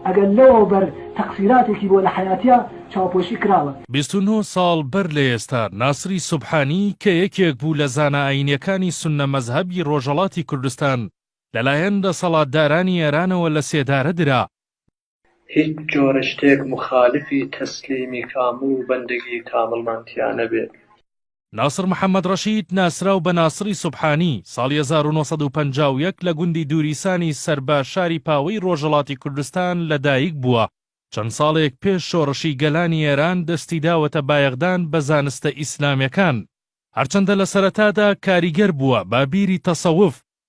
ئەگەر لەوە بەر تەقسیراتێکی بۆ لە حەیاتیا چاوپۆشی کراوە. بیست و نۆ ساڵ بەر لە ئێستا، ناسری سوبحانی کە یەکێک بوو لە زانا ئایینیەکانی سوننە مەزهەبی ڕۆژەڵاتی کوردستان، لەلایەن دەسەڵاتدارانی ئێرانەوە لە سێدارە درا. هیچ جۆرە شتێک موخالیفی تەسلیمی کامڵ و بەندەگی کامڵمان تیا نەبێت. ناصر محەمەد ڕەشید ناسراو بە ناسڕی سوبحانی، ساڵی هەزار و نۆ سەد و پەنجا و یەک لە گوندی دوریسانی سەربە شاری پاوەی ڕۆژەڵاتی کوردستان لە دایک بووە، چەند ساڵێک پێش شۆڕشی گەلانی ئێران دەستی داوەتە بایەخدان بە زانستە ئیسلامێکان، هەرچەندە لە سەرەتادا کاریگەر بووە بە بیری تەسەوف،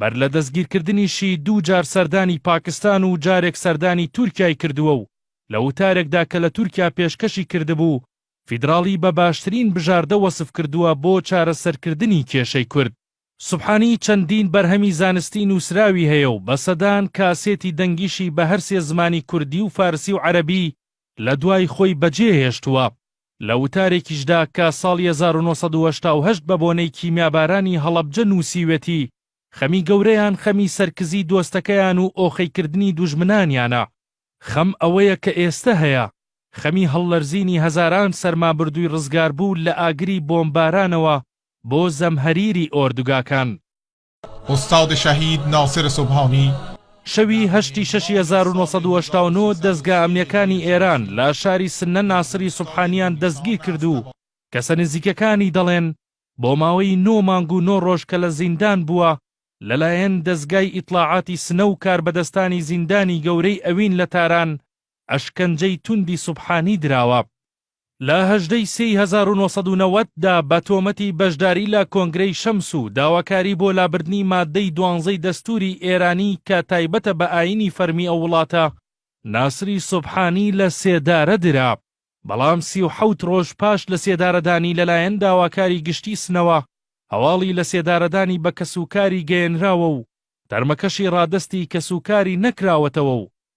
بەر لە دەستگیرکردنیشی دوو جار سەردانی پاکستان و جارێک سەردانی تورکیای کردووە و لە وتارێکدا کە لە تورکیا پێشکەشی کردبوو، فیدراڵی بە باشترین بژاردە وەسف کردووە بۆ چارەسەرکردنی کێشەی کورد. سوبحانی چەندین بەرهەمی زانستی نووسراوی هەیە و بە سەدان کاسێتی دەنگیشی بە هەرسێ زمانی کوردی و فارسی و عەرەبی لە دوای خۆی بە جێ هێشتووە. لە وتارێکیشدا کە ساڵی هەزار و نۆ سەد و هەشتا و هەشت بە بۆنەی کیمیابارانی هەڵەبجە نووسیوێتی، خەمی گەورەیان خەمی سەرکزی دۆستەکەیان و ئۆخەی کردنی دوژمنانیانە. خەم ئەوەیە کە ئێستە هەیە. خەمی هەڵلەرزینی هەزاران سەرمابردووی ڕزگاربوو لە ئاگری بۆمبارانەوە بۆ زەمهەریری ئۆردوگاکان. ئوستاد شەهید ناسر سوبهانی. شەوی هەشت ی شەش ی هەزار و نۆ سەد و هەشتا و نۆ دەزگا ئەمنیەکانی ئێران لە شاری سنە ناسری سوبحانیان دەستگیر کرد و کەسە نزیکەکانی دەڵێن بۆ ماوەی نۆ مانگ و نۆ ڕۆژ کە لە زیندان بووە لەلایەن دەزگای ئیتڵاعاتی سنە و کاربەدەستانی زیندانی گەورەی ئەوین لە تاران ئەشکەنجەی توندی سوبحانی دراوە. لە هەژدە ی سێ ی هەزار و نۆ سەد و نەوەد دا بە تۆمەتی بەشداری لە کۆنگرەی شەمس و داواکاری بۆ لابردنی ماددەی دوانزەی دەستووری ئێرانی کە تایبەتە بە ئایینی فەرمی ئەو وڵاتە، ناسری سوبحانی لە سێدارە درا، بەڵام سی و حەوت ڕۆژ پاش لە سێدارەدانی لەلایەن داواکاری گشتی سنەوە، هەواڵی لە سێدارەدانی بە کەسوکاری گەیەنراوە و تەرمەکەشی ڕادەستی کەسوکاری نەکراوەتەوە و